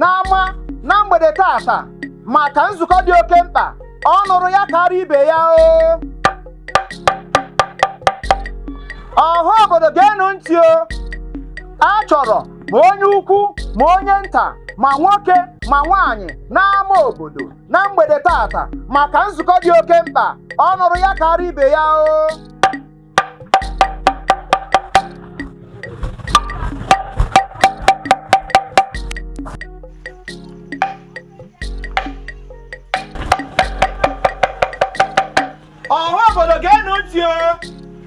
n'ama na mgbede taata maka nzukọ dị oke mkpa ọ nụrụ ya kaara ibe ya o ọha obodo geenụ ntị o a chọrọ ma onye ukwu ma onye nta ma nwoke ma nwaanyị n'ama obodo na mgbede taata maka nzukọ dị oke mkpa ọ nụrụ ya kaara ibe ya o ọha obodo geenụ ntị o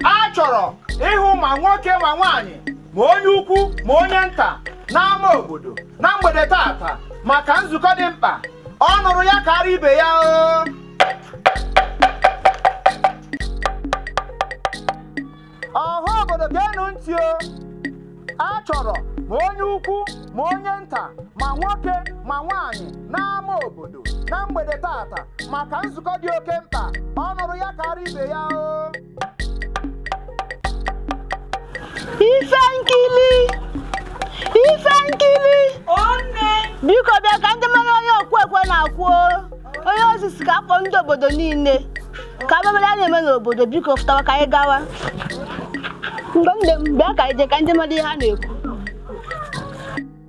a chọrọ ịhụ ma nwoke ma nwaanyị ma onye ukwu ma onye nta n'ama obodo na mgbede taata maka nzukọ dị mkpa ọ nụrụ ya kaara ibe ya o ọha obodo geenụ ntị o a chọrọ ma onye ukwu ma onye nta ma nwoke ma nwaanyị n'ama obodo na mgbede taata maka nzukọ dị oke mkpa ọ nụrụ ya kaara ibe ya o ife nkili ife nkili biko bịa ka anyị je mara ihe okwu ekwe na-akụ o. onye isi sị ka a kpọọ ndị obodo niile ka a bịa mara ihe na-eme n'obodo biko fụtawa ka anyị gawa mgbe m dị m bịa ka anyị jee ka anyị je mara ihe a na-ekwu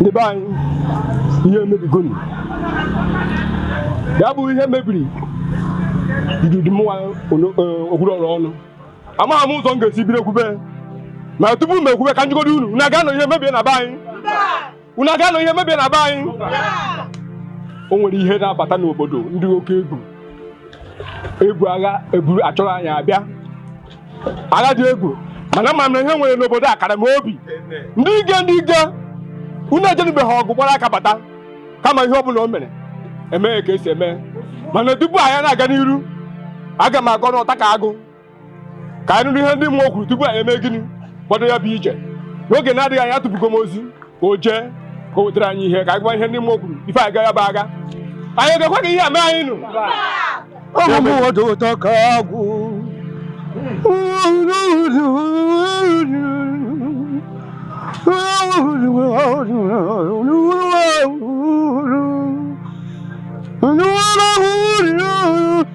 ndị be anyị ihe emebigonu ya bụ ihe mebiri ididi mụnwa okwuru ọrụ ọnụ amaghị m ụzọ m ga-esi bido ekwube ma tupu m ekwube ka m jụgodu unu unu aga-anọ ihe emebie na be anyị unu aga-anọ ihe emebie na be anyị o nwere ihe na-abata n'obodo ndị oke egwu ebu agha eburu achọrọ anyị abịa agha dị egwu mana ama m na ihe e nwere n'obodo akara m obi ndị ike ndị ike unu ejenubeghị ọgụ gbara aka bata kama ihe ọ bụla o mere e mee ka e si eme mana tupu anyị na-aga n'iru aga m aga n'ọtakaagụ ka anyị nụrụ ihe ndị mmụọ kwuru tupu anyị emee gịnị bido ya bụ ije n'oge na-adịghị anya atụpụgo m ozi ka o jee ka o wetara anyị ihe ka anyị gwa ihe ndị mmụọ kwuru ife anyị ya bụ agha anyị ga-ekwe ka ihe a mee anyị nụ ọmụmụ ọdụ ụtọ ka agwụ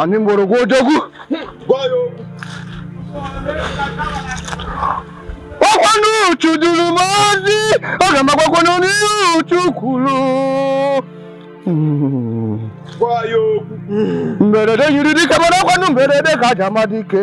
Ani mgbọrọgwụ odogwu ọkwanụ uchu duru m ozi ọ ga-amakwakwa n'ọnụ ihe uchu kwuru mberede nyiri dike mana ọkwanụ mberede ka e ji ama dike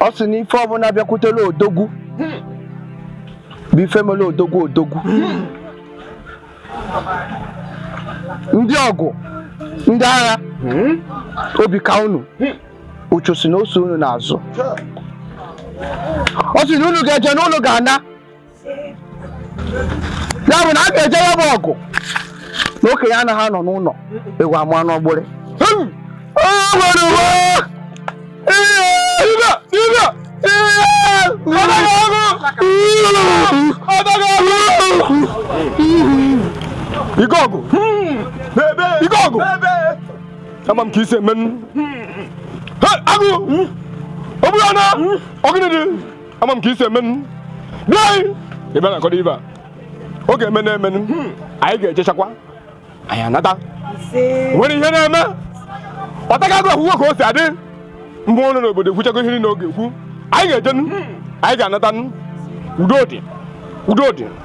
ọ sị na ife ọbụla bịakwutela odogwu bụ ife mere odogwu odogwu ndị ọgụ ndị agha obi kaa unu uchu sị na o so unu n'azụ ọ sị na unu ga-eje na unu ga-ana ya bụ na a ga-eje ya bụ ọgụ na okenye anaghị anọ n'ụlọ ewu amụa n'ọgbụrị ike ọgụ ike ọgụ ama m ka i si emenụ agụ ọ bụrụ na ọgụ dị ama m ka i si emenụ bịa anyị ị bịa nakọrọ ibe a ọ ga-eme na-emenụ anyị ga-ejechakwa anyị anata nwere ihe na-eme ọtaga agụ akwụkwọ ka o si adị mgbe ọnụ n'obodo ekwuchago ihe niile ọ ga-ekwu anyị ga-ejenụ anyị ga-anatanụ udo dị udo dị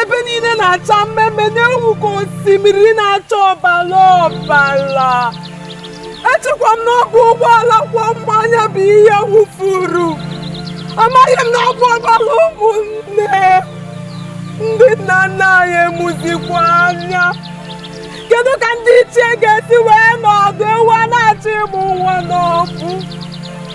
ebe niile na-acha mmee mmee na-enwu ka osimiri na-acha ọbara ọbara echekwa m n'ọbụ ụgbọala kwọ mmanya bụ ihe wụfuru amaghị m na ọbụ ọbara ụmụnne ndị nna nna anyị emuzikwa anya kedu ka ndị ichie ga-esi wee nọdụ ewu a na-achọ ịmụ nwa n'ọgbụ